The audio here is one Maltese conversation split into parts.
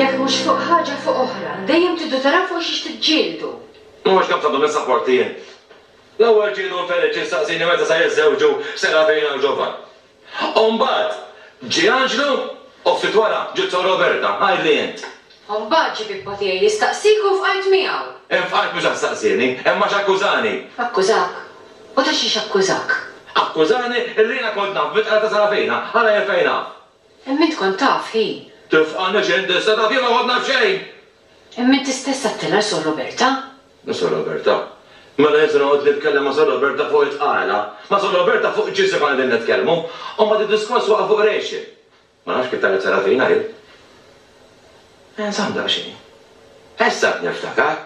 Jekk mhux fuq ħaġa fuq oħra. Dejjem tridu taraw fuq xiex tiġġieldu. Ma hux naf x'għandhom is-sapporti jien. L-ewwel ġiedu Feliċi staqsieni meta se jiżżewġu Serafina u Ġovan. U mbagħad ġie Anġlu u ftit wara ġiet Sor Roberta. Għidli int. U mbagħad ġie pippa tiegħi jistaqsik u fqajt miegħu. Hemm f'qalb mhux għax staqsieni, hemm għax akkużani. Akkużak? U ta' xiex akkużak? Akkużani illi jiena kont naf bit-tqala ta' Sarafina, ara jien fejn naf. Imma int kont taf, hi. Tifqanix int issa, taf jien ma kont naf xejn! Imma inti stess għattilha Sor Roberta. Ma' Sor Roberta? Mela jien se noqgħod nitkellem ma' Sor Roberta fuq it-tqala? Ma' Sor Roberta fuq x'ġisem konna qegħdin nitkellmu? U mbagħad id-diskors waqa' fuq rexxi. Ma nafx kif tant nsara fina hi. Inżomm daqsxejn. Issa qed niftakar.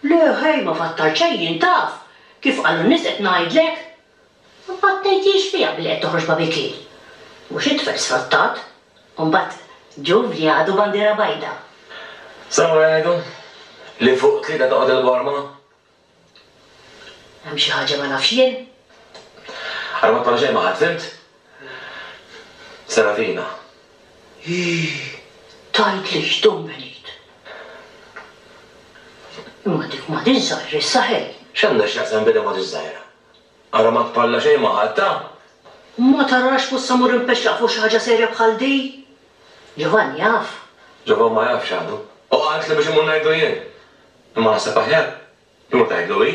Le ħej ma fattar xejn jien taf, kif qalu n-nies qed ngħidlek. Ma battejtiex fiha billi qed toħroġ babikier. Mhux it-tfal sfruttat. U mbagħad Giuvli għadu bandiera bajda. Sawa jgħidu li fuq tlieta toqgħod il-borma. Hemm xi ħaġa ma nafx jien? Ara ma tagħmel xejn ma' ħadd, fhimt? Serafina. Hi! Tgħidlix, Dom Benit! Imma dik ma dix żgħira issa ħej! X'għandha x'taqsam bidha ma dix żgħira? Ara ma tparla xejn ma' ħadd, ha? Ma tarax f'issa mmur inpexxaq fuq xi ħaġa serja bħal di? Ġovanni jaf? Ġovan ma jafx għadu. Hu qaltli biex immur ngħidlu jien. Imma naħseb aħjar li ma tgħidlu hi.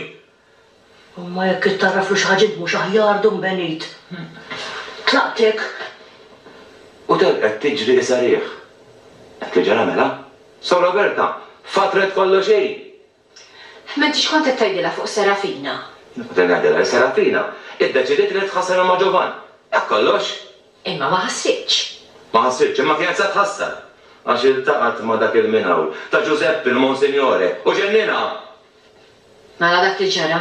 Imma jekk ittgħarraflu xi ħaġib mhux aħjar, Dun Benit? Tlaqtek? U telqet tiġri isa riħ. Hekk li ġara mela? Sor Roberta, fatret kollox hi! Imma inti x'kont qed tgħidilha fuq Serafina? Kont qed ngħidilha li Serafina iddeċidiet li tħassarha ma' Ġovan. Hekk kollox. Imma ma ħassitx. Ma ħassitx, imma kienet se tħassar, għax iltaqgħet ma' dak il-minhawl, ta' Ġużeppi, il-Monsinjore, u ġenninha! Mela dak li ġara,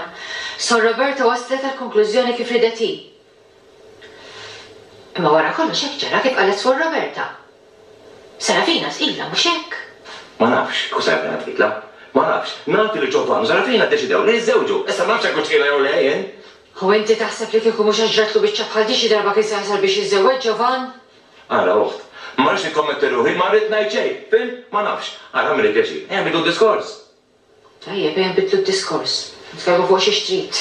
Sor Roberta waslet għall-konklużjoni kif ridet hi. Imma wara kollox hekk ġara kif qalet Suor Roberta. Serafina tqilha, mhux hekk? Ma nafx kieku Serafina tqilha. Ma nafx. Naf li Ġovann u Serafina ddeċidew li jiżżewġu. Issa ma nafx hekk hux tqilha jew le jien. Hu inti taħseb li kieku mhux għax ġratlu biċċa bħal di xi darba kien se jasal biex jiżżewweġ Jovan? Ara uħt. Ma rridx nikkommetti ruħi, ma rrid ngħid xejn. Fhimt? Ma nafx. Ara għamilli pjaċir. Ejja nbidlu d-diskors. Tajjeb, ejja nbidlu d-diskors. Nitkellmu fuq xiex trid.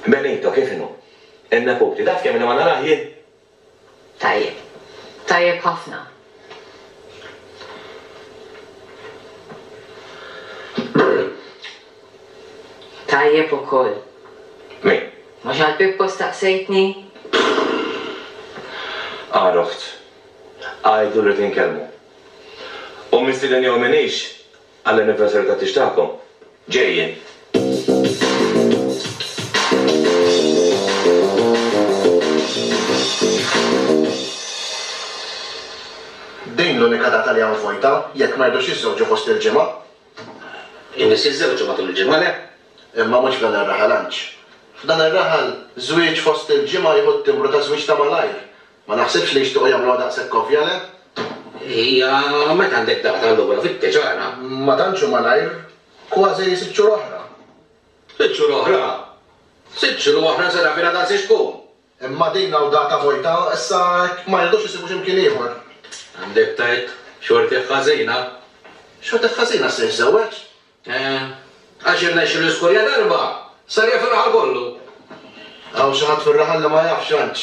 Benito, kif inhu? In-neputi. Taf kemm ilha ma narah jien? Tajjeb. Tajjeb ħafna. Tajjeb ukoll. Min? Mhux għal Pippo staqsejtni? Għal oħt. Għidlu li rrid inkellmu. Hu mistieden jew m'iniex, Għall-anniversary ta' tix tagħkom. Ġejjin. Din l-unika data li hawn vojta, jekk ma jridux jiżżewġu fost il-ġimgħa. In-nies jiżżewġu matul il-ġimgħa, le? Imma mhux f'dan ir-raħal għandx. F'dan ir-raħal, żwieġ fost il-ġimgħa jieħu t-timbru ta' żwieġ ta' malajr, Ma naħsibx li jixtiequ jagħmluha daqshekk ovvja, le? Hija, meta għandek data allura fittex ara. Ma tantx hu malajr, kważi sitt xhur oħra. Sitt xhur oħra? Sitt xhur oħra Serafina dan se x'tkun? Imma din hawn data vojta, issa hekk ma jridux isibu xi mkien ieħor. Għandek tgħid, xortih ħażina. Xortih ħażina se jiżżewweġ? Għax irnexxu l-iskorja darba, sar jaf ir-raħal kollu. Hawn xi ħadd fir-raħal li ma jafx għandx.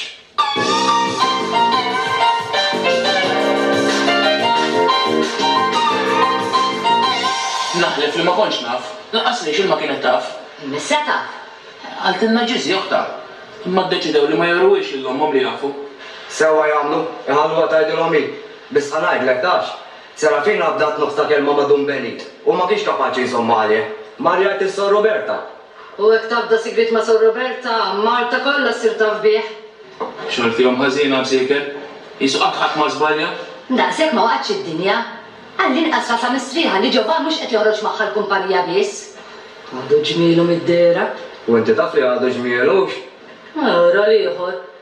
Naħlef li ma kontx naf, lanqas li x'ilma kienet taf. Missha taf. Qaltilna Ġiżi oħtha. Imma ddeċidew li ma jewruhiex lil ommhom li jafu. Sewwa jagħmlu, iħalluha tgħidilhom hi. Biss ħa ngħidlek, tafx? Serafin qabdat nofs ta' kelma ma' Dun Benit u ma kienx kapaċi jżommha għalih. Mar jgħid lil Sor Roberta. U hekk tafda sigriet ma' Sor Roberta, Malta kollha ssir taf bih. Xogħol fihom ħażin ha msieker? Qisu qatt ħadd ma żbalja? Daqshekk ma waqgħetx id-dinja. Għall-inqas rasha mistrieħa li Ġeova mhux qed joħroġ magħha l-kumpanija biss. Għadu ġmielu mid-dehra. U inti taf li għadu ġmielux? Ara l-ieħor.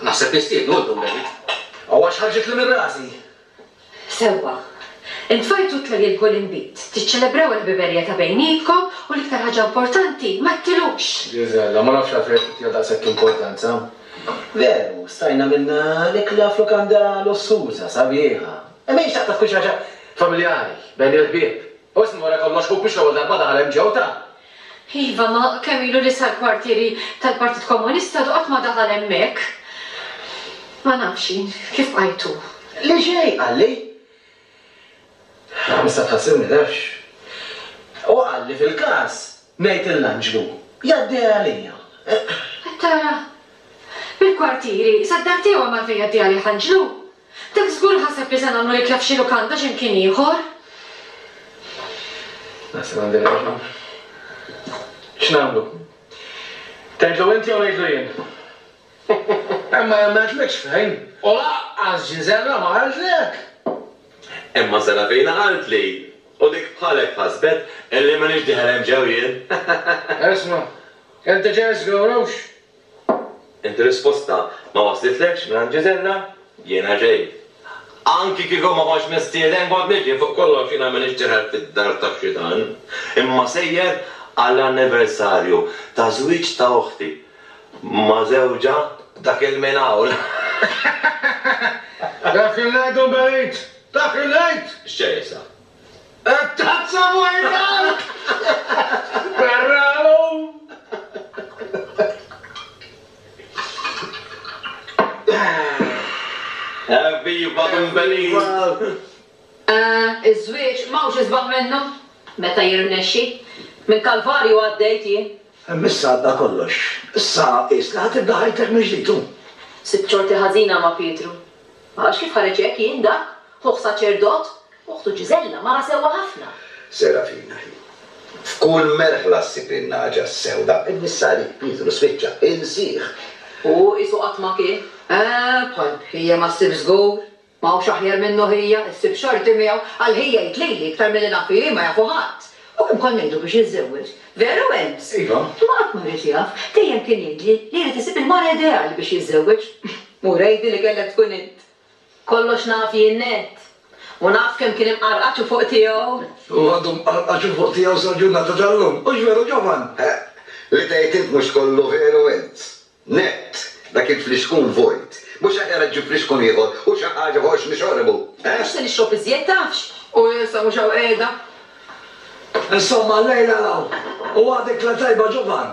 Naħseb nistieden u llum David. Aw għax ħarġitli minn rasi! Sewwa. Intfajtu t-tlajjel b'gol inbid. Tiċċelebraw il-ħbiberija ta' bejnietkom u l-iktar ħaġa importanti, ma ttilux! Gisella, ma nafx għalfejn qed tittiha daqshekk importanza. Veru, stajna minna l-ikla f'lukanda lussuża, sabiħa. Imma hi xtaqtha tkun xi ħaġa familjari, bejn il-ħbieb. U isma' wara kollox ħuk mhux l-ewwel darba daħal hemm ġewwta! Iva, ma kemm ilu li sal-kwartieri tal-Partit Komunista qatt ma daħal hemmhekk. Ma nafx jien kif bqajtu. Le xejn, qalli. Issa tħassibni nafx. Hu qalli fil-każ ngħid lill-anġlu jgħaddiha għalija. Qed tara? Mill-kwartieri sad-dar tiegħu hemm għalfejn jgħaddiha għalih anġlu? Dak żgur ħaseb li se nagħmlu l-ikla f'xi lukanda xi mkien ieħor. Naħseb għandi raġun. X'nagħmlu? Tgħidlu int jew ngħidlu jien? Imma jien ma għedtlekx fejn. U lanqas Ġiżella ma qaltlek. Imma Serafina qaltli. U dik bħalek ħasbet illi m'iniex dieħel hemm ġew jien. Isma', inti ġej żgurux Inti risposta ma waslitlekx mingħand Ġiżella? Jiena ġej. Anki kieku ma kontx mistieden kont niġi, fuq kollox jiena m'iniex deher fid-dar tax-xitan, imma sejjer għall-anniversarju ta' żwieġ ta' oħti ma' żewġha dak il-minhawl. Dak il-lejt u l-belt! Dak il-lejt! X'ġej issa? It-tazza Murtal! Barrahom! Evviva Thumbelina! Iż-żwieġ m'hawnx isbaħ minnu, meta jirnexxi. Minn kalvarju għaddejt jien. Imma issa għadda kollox. Issa qis li ħa tibda ħajtek mill-ġdid, hu. Sibt xorti ħażina ma' Pietru. Għax kif ħareġ hekk jien dak, ħuh saċerdot, Oħtu Ġiżella, mara sewwa ħafna. Serafina, Hi. F'kull merħla ssib in-nagħġa s-sewda. Il-missali, Pietru, spiċċa insih. Hu qisu qatt ma kien. Eeh, bħal Hija ma ssibx żgur. Ma hawnx aħjar minnu Hija, issib xorti miegħu. Għal Hija jgħid lili, iktar milli naf ili, ma jafu ħadd. U kemm kont ngħidu biex jiżżewweġ. Veru, Ems? Iva. Imma qatt ma rrid jaf. Dejjem kien jgħidli li jrid isib il-mara ideali biex jiżżewweġ. Mura jgħidli li kellek tkun int. Kollox naf jien nett. U naf kemm kien imqarqaċ u fuq tiegħu. U għadu mqarqaċ u fuq tiegħu sal-ġurnata tal-lum. Hux veru, ġovan? Eħ, li tgħid int mhux kollu veru int. Nett, dak il-flixkun vojt. Mhux aħjar iġġib flixkun ieħor u xi ħaġa fuq x'nixorbu, eħ? Mhux se nixrob iżjed, tafx. U issa mhux hawn qiegħda. Insomma, llejla 'l hawn. U għadek la tajba, ġovan?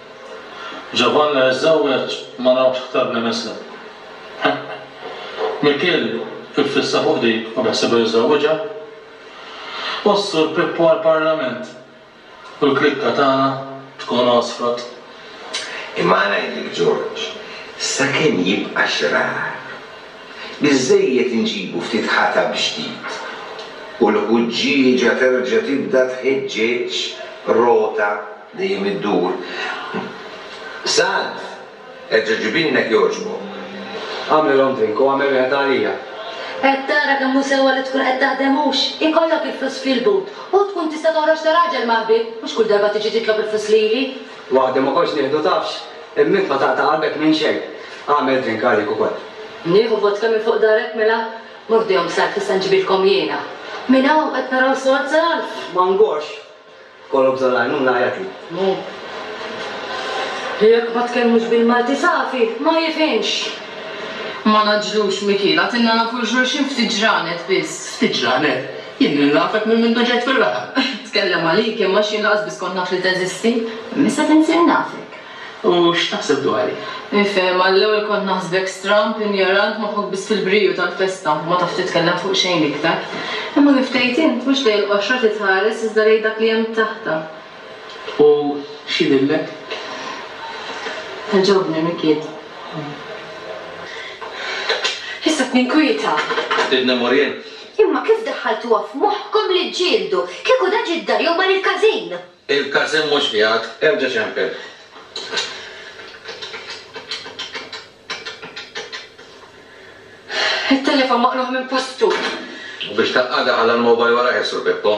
Ġovann la jiżżewweġ ma rawx ktar minn isem. Eħ. Mikiel iffissa fuq dik u beħsiebu jiżżewwiġha. U s-Sur Pippo għall-Parlament u l-klikka tagħna tkun għosfrot. Imma ngħidlek Ġorġ, sakemm jibqa' xrar, biżżejjed inġibu ftit ħatab ġdid u l-ħuġġieġa terġa' tibda tħeġġeġ rota. Dejjem iddur. Sand! Erġa' ġibilna jekk jogħġbok. Agħmlilhom drink u agħmel wieħed għalija. Qed tara kemm hu sewwa li tkun qed taħdem hux? Ikollok il-flus fil-but u tkun tista' toħroġ ta' raġel ma' ħbieb, mhux kull darba tiġi titlob il-flus lili. Waħdi ma kontx nieħdu tafx? Imma int ma taqta' qalbek minn xejn. Agħmel drink għalik ukoll. Nieħu vodka minn fuq darek mela? Mordihom s-salf issa nġibilkom jiena. Minn hawn qed naraw sors għal-alf. Ma ngorx. Kollu bżonn l-għajnuna jagħti. Li jekk ma tkellmux bil-Malti safi, ma jifhimx. Ma ngħaġġlux Mikiel, għatilna nafu 'l xulxin ftit ġranet biss. Ftit ġranet? Jien lil nafek minn mindu ġejt fir-raħal. Tkellem għalik, imma x'jien lanqas biss kont naf li teżisti. Imma issa tinsir nafek. U x'taħseb dwari? Nifhem, għall-ewwel kont naħsbek stramb, injorant, moħħok biss fil-briju tal-festa, u ma tafx titkellem fuq xejn iktar. Imma kif tgħid int, mhux lejn il-qoxra trid tħares iżda lejn dak li hemm taħtha. U x'jidhirlek? Tgħoġobni, Mikiet. Issa qed ninkwieta. Ridna Muriel. Imma kif daħħaltuha f'moħħkom li ġġieldu? Kieku da ġie d-dar jew mar il-każin! Il-każin mhux qiegħed, erġa' ċempel. It-telefon maqlugħ minn postu. U biex taqqadha ħalla l-mobile wara ħiel Sur Pippo.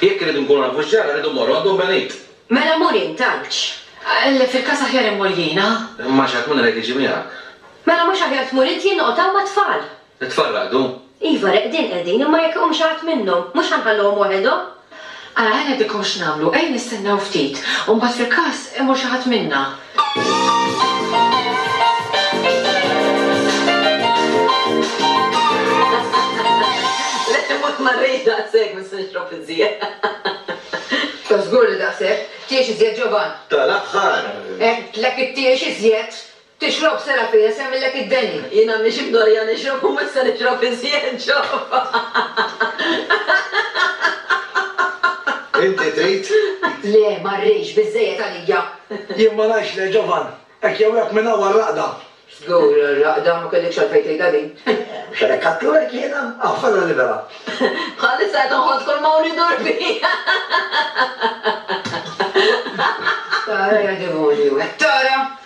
Jekk irridu nkunu nafu x'ġara, rridu mmorru għand Omm Benit. Mela mur int, għalx? Le, fil-każ aħjar immur jiena. Imma xi ħadd minnhom irid jiġi miegħek. Mela mhux aħjar tmur int jien noqgħod hawn mat-tfal? It-tfal raqdu? Iva, reqdin qegħdin, imma jekk iqum xi ħadd minnhom, mhux ħa nħalluhom waħedhom? Ara, ħa ngħidilkom x'nagħmlu, ejja nistennew ftit, u mbagħad fil-każ imur xi ħadd minna. Le, imur ma rridx daqshekk, biss nixrob iżjed. Ta' żgur li daqshekk, tiex iżjed Ġovann. Tal-aħħar! Għedtlek ittiex iżjed! Tixrob sera fija semmillek id-denja. Jien għandi xi mdorrija nixrob u m'issa nixrob iżjed ġobha. Inti trid? Le, ma rridx, biżżejjed għalija. Jien ma ngħidx le, ġovan. Hekk jew hekk minn hawn għar-raqda. Żgur għar-raqda, ma kellikx għalfejn tgħidha din. Mhux għalhekk għadthulek jiena? Aħfarha libera. Bħalissa qed inħoss kull m'hawn idur fija. Tara jagħdemonju. Tara!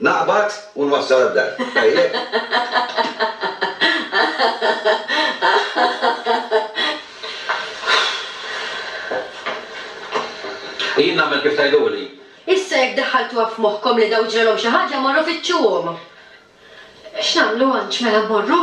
Naqbad u nwassal għad-dar. Tajjeb? Jien nagħmel kif tgħiduli. Issa jekk daħħaltuha f'moħħkom li dawn ġralhom xi ħaġa, morru fittxuhom. X'nagħmlu Anġ mela mmorru?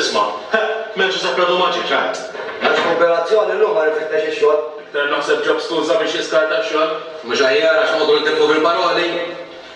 Isma', heh, m'hemm xi sapradu maġiċ, għad? Mhux kooperazzjoni llum ma rifittex ix-xogħol. Iktar naħseb ġab skuża biex jiskarta x-xogħol. Mhux aħjar għax noqogħdu nitilfu fil-paroli?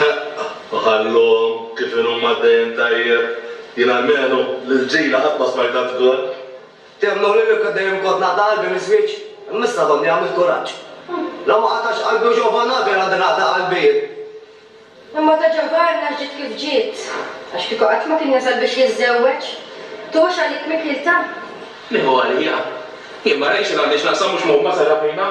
Ħaqqa, u ħalluhom kif inhuma għaddejjin tajjeb. Jien almenu, lill-ġila qatt ma smajtha tgol. Temnu li kieku dejjem kont naqta' qalbi miż-żwieġ, imma issa domni għamilt kuraġġ. La ma qatgħax qalbi u Jehovah naf jien għandi naqta' qalbi jien. Imma ta' Giovanna ġiet kif ġiet, għax kieku qatt ma kien jasal biex jiżżewweġ. Tuħux għalik Mikielta? Nieħu għalija. Jien ma rajtx li għandi x'naqsam mhux mogħob ma' Serafina.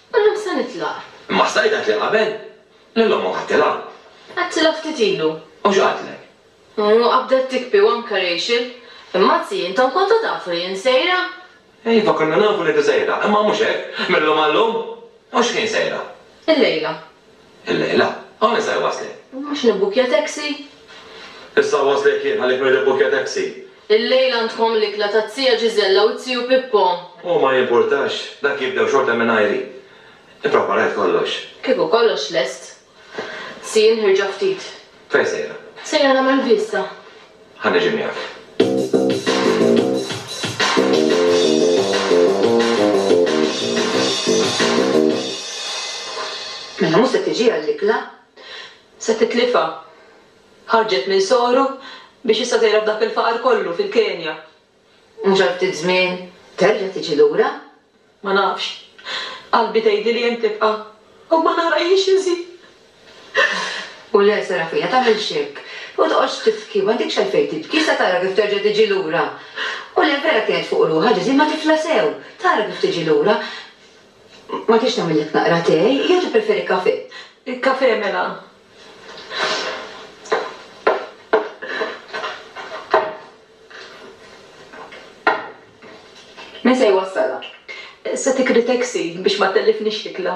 Illum se nitlaq. Imma stajt għedtli qabel? Lil ommok għedtilha. Għedtilha ftit ilu. U x'qaltlek? U qabdet tikbi u anke Rachel. Imma zii, intom kontu tafu li jien sejra? Iva, konna nafu li inti sejra, imma mhux hekk, mil-lum għal-lum. U x'ħin sejra? Illejla. Illejla? Hawn issa jwasslek. Mhux nibbukkja taxi? Issa nwasslek jien, għalik min ribbukkja taxi. Illejla għandkom l-ikla tat-Tija Ġiżella u t-Tiju Pippo. U ma jimpurtax, dak jibdew xorta mingħajri. Ippreparajt kollox. Kieku kollox lest. Si, inħirġha ftit. Fejn sejra? Sejra nagħmel viżta. Ħa niġi miegħek. Mela mhux se tiġi għall-ikla. Se titlifha. Ħarġet minn soru biex issa sejra f'dak il-faqar kollu fil-Kenja. Mhux għal ftit żmien terġa' tiġi lura? Ma nafx. Qalbi tgħidili hemm tibqa'. U ma narajhiex inżid. U le, Serafina, tagħmilx hekk. U toqgħodx tibki, m'għandekx għalfejn tibki, issa tara kif terġa' tiġi lura. U le, vera kienet fuq ruħha Ġeżi, imma tifla sew. Tara kif tiġi lura. Ma tridx nagħmillek naqra te, jew tippreferi kafè? Kafè mela. Min se jwassalha? Se tikri taxi biex ma tellifnix l-ikla.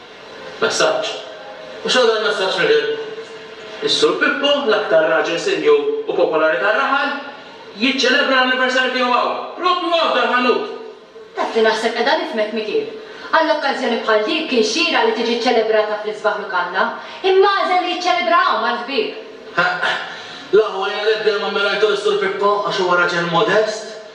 Messaġġ. U x'għamel il-messaġġ mill-Ilm? Is-Sur Pippo, l-aktar raġel senjur u popolari tar-raħal, jiċċelebra l-anniversarju tiegħu hawn, proprju hawn f'dal-ħanut! Taf li naħseb qiegħda nifhmek, Mikiel. Għal okkażjoni bħal dik kien xieraq li tiġi ċċelebrata fl-isbaħ lukanda, imma għażel li jiċċelebraha hawn mal-ħbieb. Ħa, la hu għajja l-ebda imma minn rajtu lis-Sur Pippo għax huwa raġel modest,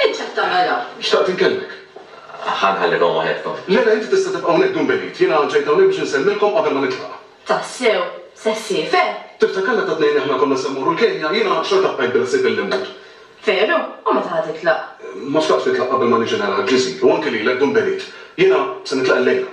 Int x'qed tagħmel hawn? Xtaqt inkellmek. Ħa nħallilhom waħedkom. Le, le, inti tista' tibqa' hawnhekk dun b'għid. Jiena ġejt hawnhekk biex insellmilkom qabel ma nitlaq. Tassew? Se ssir, veru? Tiftakar meta t-tnejn aħna konna se mmorru l-Kenja? Jiena xorta bqajt bil-ħsieb billi mmut. Veru? U meta ħa titlaq? Ma xtaqtx nitlaq qabel ma niġi nara l-Ġiżir, u anki lilek dun b'għid. Jiena se nitlaq illejla.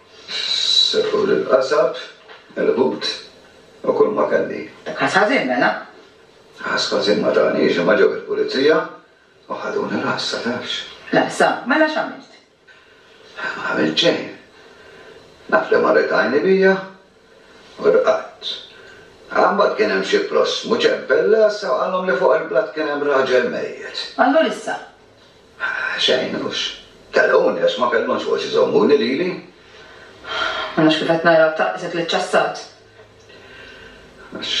Settur il-qasab, il-ħut u kull ma kelli. Dak ħass ħażin mela? Ħass ħażin ma taniex imma ġew il-pulizija u ħaduni l-ħassa, tafx. L-ħassa? Mela x'għamilt? Ma għamilt xejn. Naf li marret għajni bija u rqadt. Aha mbagħad kien hemm xi prossmu ċempel l-għassa u qalhom li fuq il-blat kien hemm raġel mejjet. Allura issa? Xejn, hux. Telquni għax ma kellhomx fuq xi jżommuni lili. Ma nafx kif qed narak tgħaqqisek liċ-ċassat. Għax.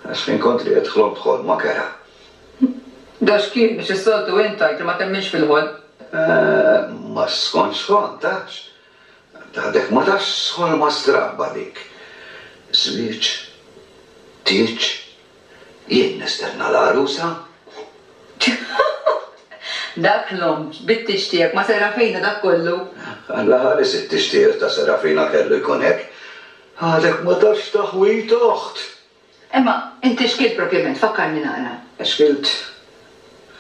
Għax fin kont riqed ħlomt ħolma kerha. Dawx kien biex is-soltu int tgħid li ma temminx fil-ħolm. Ma skontx ħolm, tafx. Għadek ma tafx x'ħolma strabba dik. Żwieġ? Tieġ? Jien nistenna l-għarusa? Dak l-omm bit-tieġ tiegħek ma' Serafina dak kollu? Alla ħares it-tieġ tiegħek ta' Serafina kellu jkun hekk. Għadek ma tafx taħwid oħt! Imma inti x'kiel propjament? Fakkarni naqra. Xkilt?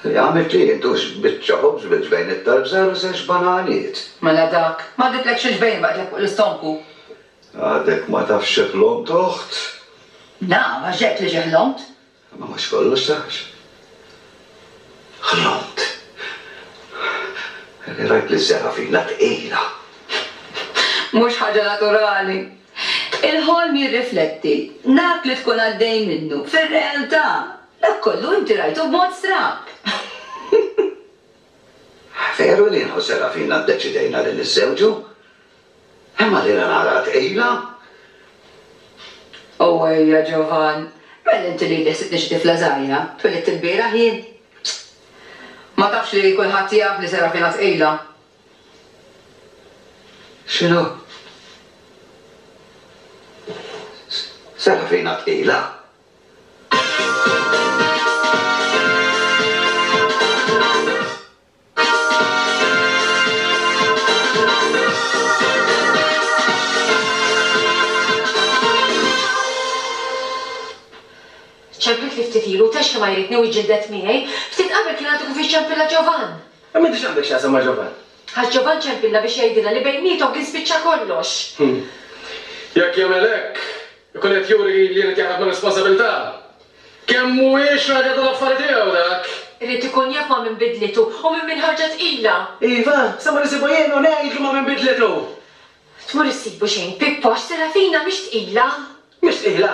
Li għamilt hi, dux biċċa ħobż bil-ġbejniet tal-bżar u żewġ bananijiet. Mela dak. M'għadditlekx il-ġbejn baqgħetlek fuq l-istonku. Għadek ma tafx xi ħlomt, oħt? Naf, għax għedt li xi ħlomt. Imma mhux kollox tafx. Ħlomt. Li rajt liż-żerafina tqila. Mhux ħaġa naturali. Il-ħolm jirrifletti dak li tkun għaddej minnu fir-realtà. Dak kollu inti rajtu b'mod strab. Veru li jien u Serafina ddeċidejna li niżżewġu, imma lilha naraha tqila. Owwejja Ġovan, mela inti lili ħsibtni xi tifla żgħira, twelidt ilbieraħ jien. Ma tafx li kulħadd jaf li Serafina tqila. X'inhu? Sena fina tqila. Ċempiltli ftit ilu, tgħix li ma jridni u jġildet miegħi. Ftit qabel kien għadu kif iċċempilha Ġovann. Imma inti x'għandek x'taqsam ma' Ġovann? Għax Ġovann ċempilha biex jgħidilha li bejniethom kien spiċċa kollox! Hm. Jekk jagħmel hekk, ikun qed juri li jrid jaħrab mir-responsabilità. Kemm mhuwiex raġel tal-affari tiegħu dak! Irid ikun jaf ma' min bidlitu u minn min ħarġha tqila! Iva, se mmur insibu jien u ngħidlu ma' min bidlitu! Tmur issibu xejn, Pippo, għax Serafina mhix tqila! Mhix tqila?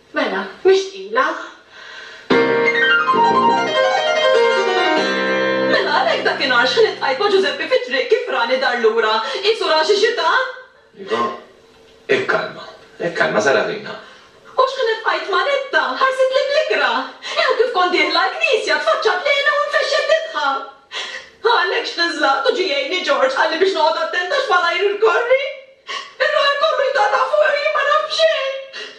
Mela, mhix tqila. Mela, għalhekk dakinhar x'ħlitqajt ma' Ġużeppi fit-triq kif rani dar lura, qisu ra xi xitan? Iva. Ikkalma, ikkalma, żarha ħina. U x'ħlitqajt ma' Ritta, ħarsitli bl-ikra. Ew kif kont dieħla l-knisja, tfaċċat lejna u nfexxet tidħak. Għalhekk x'niżżlaqt u ġie jgħinni Ġorġ qalli biex noqgħod attent għax malajr irkorri. Ir-raħal kollu jtaqta' fuqi u jien ma naf b'xejn.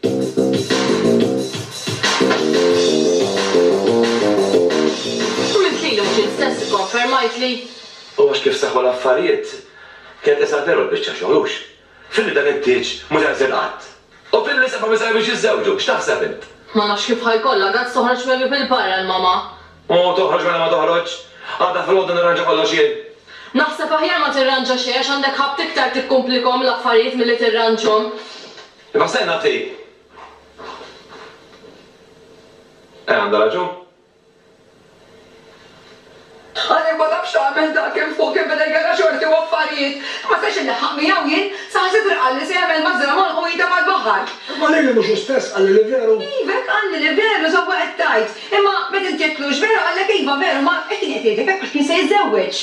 Minn qligħ li mhux int stess ikkonfermajtli. U għax kif seħħu l-affarijiet, kien qisha veru l-biċċa xogħol, hux? Filli dan it-tieġ mhu tenżel qatt! U filli l-isem ma misebiex jiżżewġu! X'taħseb int? Ma nafx kif ħa jkollha gazz toħroġ mewju bil-barra l-mamà. U toħroġ mela ma toħroġx! Għada filgħodu nirranġa kollox jien. Naħseb aħjar ma tirranġa xejn għax għandek ħabt iktar tikkumplikhom l-affarijiet milli tirranġhom. Imma se nagħtik. Eh, għandha raġun. Għal jekk ma tafx tagħmel dak kemm fuq kemm beda jgerra' xorti u affarijiet. Ma stax inlaħħaq miegħu jien. Saħansitra qalli se jagħmel mażżra m'għonqu u jitfa' f'baħar. Imma lili mhux hu stess qalli li veru? Iva, hekk qalli li veru, sewwa qed tgħid. Imma meta inti għedtlux veru qallek iva veru, ma hekk kien qed jgħidlek hekk għax kien se jiżżewweġ.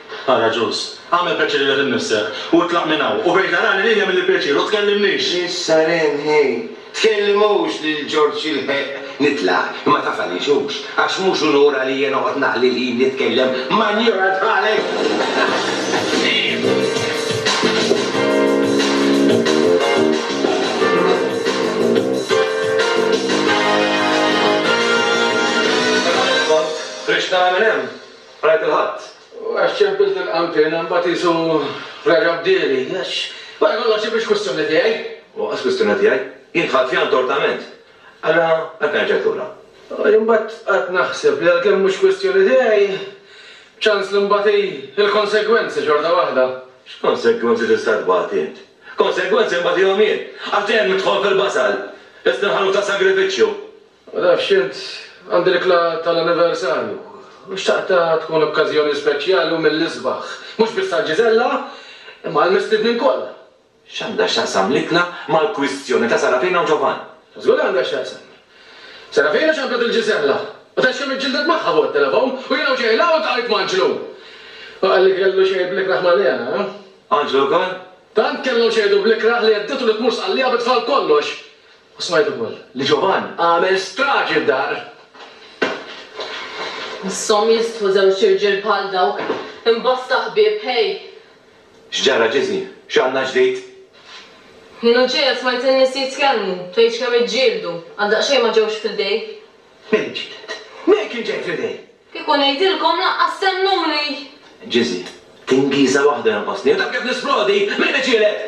Ara ġust. Agħmel pjaċir lilek innifsek, u itlaq minn hawn, u bgħid l-għargħar li lilja mill-pjaċir, u tkellimnix! Issa Ren, ħej, tkellimux lil Ġorġ jilħeq nitlaq, imma taf għaliex hux, għax mhux unur għalija noqgħod naqli l-ħin nitkellem ma' njorant bħalek! Ħriġt nara min hemm. Għajat il-Ħadd. U għax ċempilt il-qanpiena mbagħad qisu reġa' bdieli. Għax wara kollox hi mhix kwistjoni tiegħi. U lanqas kwistjoni tiegħi. Jien dħalt fiha ntortament. Allura għalfejn rġajt lura? U jien mbagħad qgħadt naħseb li għalkemm mhux kwistjoni tiegħi, ċans li mbagħad hi l-konsegwenzi xorta waħda. X'konsegwenzi tista' tbati int? Konsegwenzi mbagħad ihom jien. Għax dejjem nidħol fil-basal. Lest inħalluk ta' sagrifiċċju. Ma nafx int, għandi l-ikla tal-anniversarju u xtaqtha tkun okkażjoni speċjali u mill-isbaħ, mhux biss għal Ġiżella, imma għall-mistednin kollha. X'għandha x'taqsam l-ikla mal-kwistjoni ta' Sarafina u Ġovanni? Żgur li għandha x'taqsam. Sarafina xabbet lil Ġiżella u tgħid kemm iġġildet magħha fuq it-telefon u jien hawn ġejla u ltqajt m'Anġlu. U qalli kellu xejn bl-ikrah m'għaliha, ha? Anġlu wkoll? Tant kellhom xejdu bl-ikrah li hedditu li tmur sqallija bi tfal kollox. U smajt ukoll li Ġovann għamel straġi f'dar. Misshom jistħu żewġ irġiel bħal dawk, hemm bosta ħbieb, ħej! X'ġara Ġiżi? X'għandna ġdid? Jien u Ġeja smajt in-nies jitkellmu, tgħidx kemm iġġieldu, għal daqsxejn ma ġewx fl-idej. Min ġieled? Min kien ġej fl-idej? Kieku ngħidilkom lanqas temmnuni! Ġiżi, tingiża waħda jonqosni, u taf kif nisplodi! Min iġieled?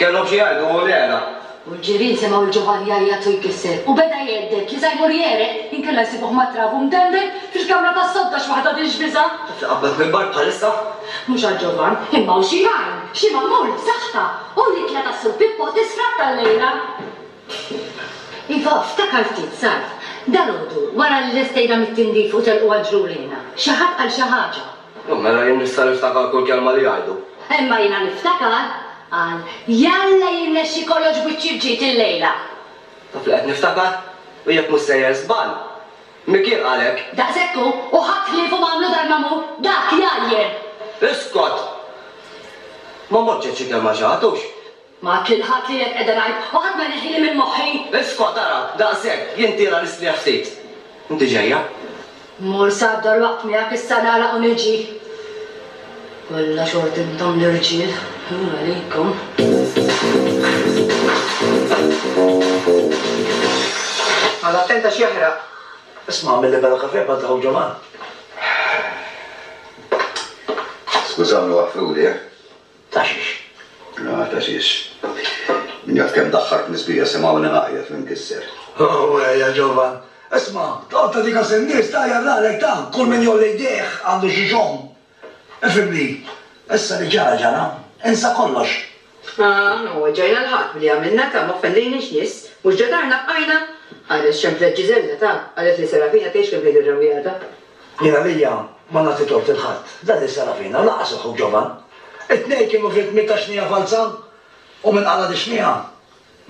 Kellhom xi jgħidu u l-għela. U l-ġirien semgħu lil Ġovanni jgħajjat u jkisser, u beda jhedded li sa jmur jegħreq inkella jsibuh matrab u mdendel fil-kamra tas-sodda x'waħda din x'biża'! Taf li qabbad mill-bar bħalissa? Mhux għal Ġovann, imma hawn xi jgħin, xi magħmul b'saħħta! U l-ikla tas-Sur Pippo tisfratta llejla! Iva, ftakar ftit, Sarv, dalgħodu wara li lestejna mit-tindif u telqu għal ġrulejna, xi ħadd qal xi ħaġa. Ohh, mela jien nista' niftakar kull kelma li jgħidu. Imma jiena niftakar, qal, jalla jirnexxi kollox b'wiċċi rġid illejla. Taf li qed niftakar? U jekk mhux sejjer żball, Mickey qal hekk. Daqshekk hu, u ħadd ħliefhom għamlu dar ma' mur, dak jgħajjir! Iskot! Ma mort xejn xi kelma xi ħadd, hux? Ma għadt lil ħadd li hekk qiegħda ngħid u ħadd ma jneħħili minn moħħi! Isqot ara, daqshekk, jien tiela l-istrieħ ftit. Inti ġejja? Mmur sad-dar waqt miegħek issa nagħlaq u niġi. Kollha xort intom l-irġiel, ħin għalikom. Noqgħod attent għax jaħraq. Isma' għamilli bella kafè bħal ta' Ħu Ġovan. Skużawni waħfruli, eh? Taxix. Ah, taxix. Min jaf kemm daħħart l-isbieha semgħuni ngħajjat minn kisser. Oh, ja ġovan. Isma', toqgħod tagħti kas in-nies, tgħajjar ralek ta', kull min jgħolli jdejh għandu xi xogħol. Ifhimni, issa li ġara ġara, insa kollox. Ah, ma weġġajna 'l ħadd b'li għamilna ta', ma offendejniex nies, mhux ġa darna bqajna? Ħareġ xemx lejk Ġiżella ta', qalet li Serafina tgħix kemm tgħid ir-rawwieħa ta'. Jien għalija ma nagħti tort lil ħadd. Dan li sara fina, lanqas il-ħu ġovan. It-tnejn kienu vittmi ta' xnija falza u min qala' dix-xnija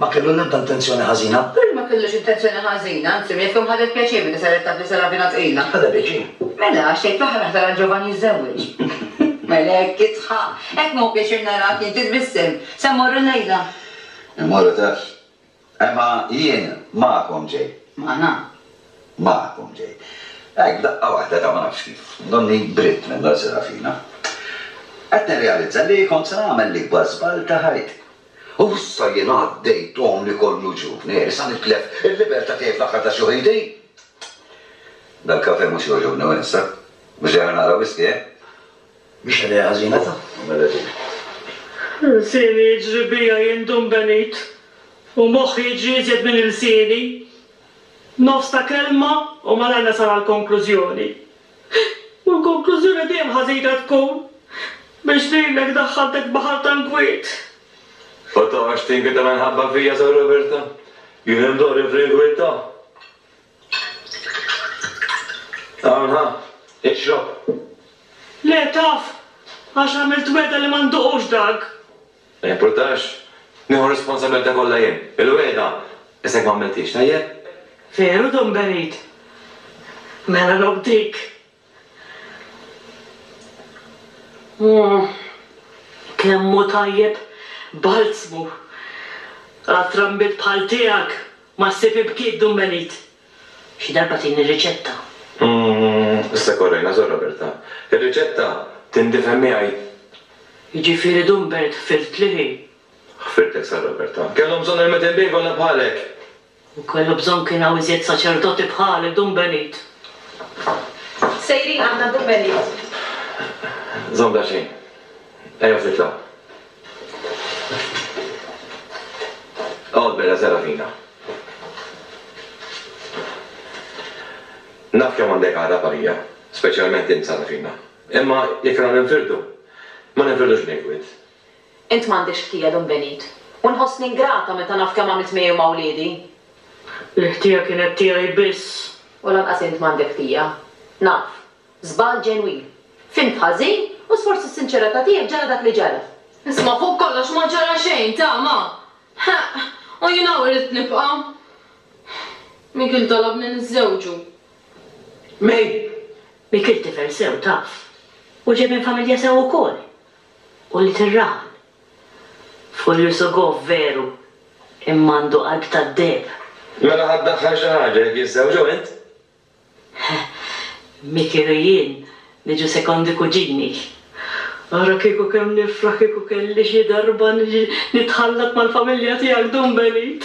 ma kellu l-ebda intenzjoni ħażina. Perri ma kellux intenzjoni ħażina, anzi min jaf kemm ħadet pjaċir milli saret taf li sara fina tqila. Ħadha pjaċir. Mela, għax tgħid fl-aħħar aħdar għal ġovan jiżżewweġ. Mela hekk isħa. Hekk ma hu pjaċir narak jien titbissem. Se mmorru llejla? Immorru taf. Imma jien magħkom ġej. Magħna. Magħkom ġej. Hekk, f'daqqa waħda ta' ma nafx kif, donni bridt minn Don Serafina. Qed nirrealizza li kont se nagħmel l-ikbar żball ta' ħajti. U issa jien għaddejt għomri kollu ġuvni, eh, sa nitlef il-liberta' tiegħi fl-aħħar ta' xi ħin din! Dal-kafè mhux jogħġobni wisq, eh? Mhux dejjem inaqra wisky, eh? Mhix ħnejja ħażina ta' Mela din. Lsieni jiġri bija jien Dun Benit u moħħi jiġri iżjed minn ilsieni. Nofs ta' kelma u malajr nasal għall-konklużjoni. U l-konklużjoni dejjem ħażina tkun biex lilek daħħaltek baħar tal-gwiet. U toqgħodx tinkwieta minħabba fija, Sor Roberta. Jien indorri fl-inkwieta. Hawn ħa, ixrob. Le, taf, għax għamilt wegħda li ma nduqux dak. Ma jimpurtax, nieħu r-responsabbiltà kollha jien. Il-wegħda, issa jekk ma għamilthiex, tajjeb? Veru, Don Berid? Mela robb dik. Kemm hu tajjeb balzmu! Għal trambiet bħal tiegħek ma ssib ibkiet dun Melid. Xi darba tini riċetta. Issa korrejna Sor Roberta. Ir-riċetta tindifhem miegħi? Jiġifieri dun Bert ħfirtli hi? Ħfirtek Sor Roberta. Kellhom bżonn ermit imbiegħ kollha bħalek! U kellu bżonn kien hawn iżjed saċerdoti bħalek, Dun Benit. Sejrin aħna, Dun Benit. Żomm daqsxejn. Ejjew nitlgħu. Oqgħod bella Serafina. Naf kemm għandek għargħab għalija, speċjalment int Sarafina. Imma jekk irna ninfirdu, ma ninfirdux bl-inkwiet. Int m'għandekx ħtija, Dun Benit. U nħossni ingrata meta naf kemm għamilt miegħi u ma' wliedi. L-ħtija kienet tiegħi biss. U lanqas int m'għandek ħtija. Naf. Żball ġenwin. Fhimt ħażin u sforz is-sinċerità tiegħek ġara dak li ġara. Isma' fuq kollox ma ġara xejn, tama! Ħeqq! U jien hawn ridt nibqa'. Mikiel talabni niżżewġu. May! Mikiel tifel sew, taf. U ġej minn familja sew ukoll. u li tirraħal. Fuq Yusugov veru, imma għandu qalb tad-deheb. Mela ħa ddaħħal xi ħaġa jekk jiżżewġu int? Mi kienu jien niġu sekondi kuġini. Ara kieku kemm nifraħ kieku kelli xi darba niġi nitħallat mal-familja tiegħek Dun Benit.